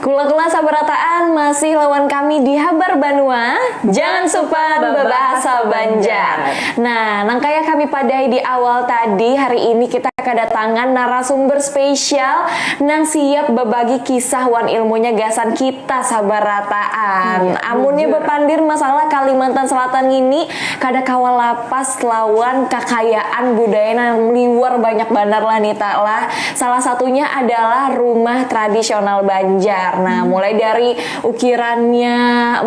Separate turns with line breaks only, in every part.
Kula-kula sabarataan masih lawan kami di Habar Banua, jangan supan babahasa Banjar. Nah, nang kaya kami padai di awal tadi, hari ini kita kadatangan narasumber spesial nang siap babagi kisah wan ilmunya gasan kita sabarataan. Amunnya bapandir masalah Kalimantan Selatan ngini, kada kawa lapas lawan kakayaan budaya nang liwar banyak banar lah Nita lah. Salah satunya adalah rumah tradisional Banjar. Nah, hmm. mulai dari ukirannya,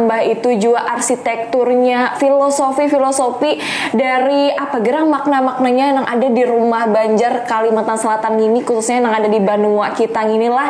mbah itu juga arsitekturnya, filosofi-filosofi dari apa gerang makna-maknanya yang ada di rumah Banjar Kalimantan Selatan ini khususnya yang ada di Banua kita inilah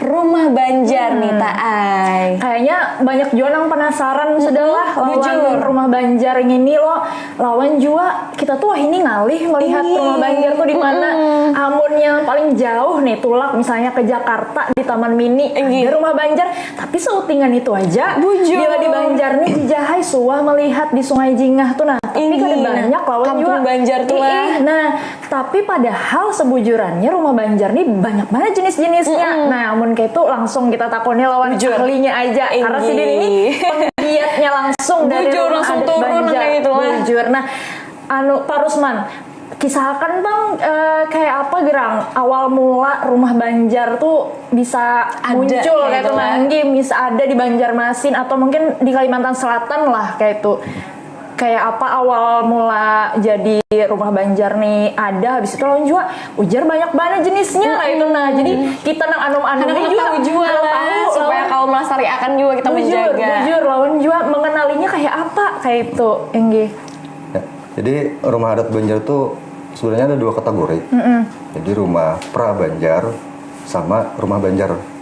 rumah Banjar hmm. nih Ta Ai. Kayaknya banyak
juga yang penasaran hmm. sudahlah lawan rumah Banjar ini lo lawan juga kita tuh wah ini ngalih melihat ini. rumah Banjar tuh di mana hmm. amun yang paling jauh nih tulak misalnya ke Jakarta di Taman Mini Enggi. ada rumah Banjar tapi seutingan itu aja Bujur. bila di Banjar nih di Jahai suah melihat di Sungai Jingah tuh nah tapi kan banyak lawan juga Banjar tuh lah.
Nah, Tapi
padahal sebujurannya rumah Banjar nih banyak banget jenis-jenisnya. Mm -hmm. Nah, amun kayak itu langsung kita takoni lawan Bujur. ahlinya aja. Ingi. Karena si Din ini penggiatnya langsung Bujur, dari rumah langsung adat turun Banjar. Gitu, Bujur. Nah, anu Pak Rusman, kisahkan bang e, kayak apa gerang awal mula rumah Banjar tuh bisa ada, muncul kayak itu kan. bisa ada di Banjarmasin atau mungkin di Kalimantan Selatan lah kayak itu kayak apa awal mula jadi rumah Banjar nih ada habis itu lawan jua ujar banyak banget jenisnya mm -hmm. itu nah jadi kita nang anum anum juga tahu juga lah tahu,
supaya kau melestariakan juga kita bujur, menjaga bujur lawan jua
mengenalinya kayak apa kayak itu Enggi ya,
jadi rumah adat Banjar tuh sebenarnya ada dua kategori mm -hmm. jadi rumah pra Banjar sama rumah Banjar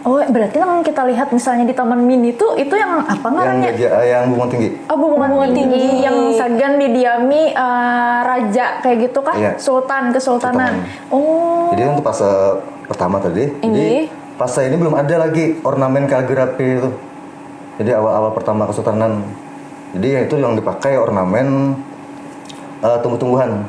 Oh, berarti
nang kita lihat misalnya di Taman Mini tuh itu yang apa ngarannya? Yang, eh, yang bunga tinggi.
Oh, bunga, bunga tinggi. tinggi
yang sagan didiami uh, raja kayak gitu kah? Yeah. Sultan, kesultanan. Sultan. Oh. Jadi untuk fase
pertama tadi. Ini. Jadi fase ini belum ada lagi ornamen kaligrafi itu. Jadi awal-awal pertama kesultanan. Jadi ya itu yang dipakai ornamen uh, tumbuh-tumbuhan.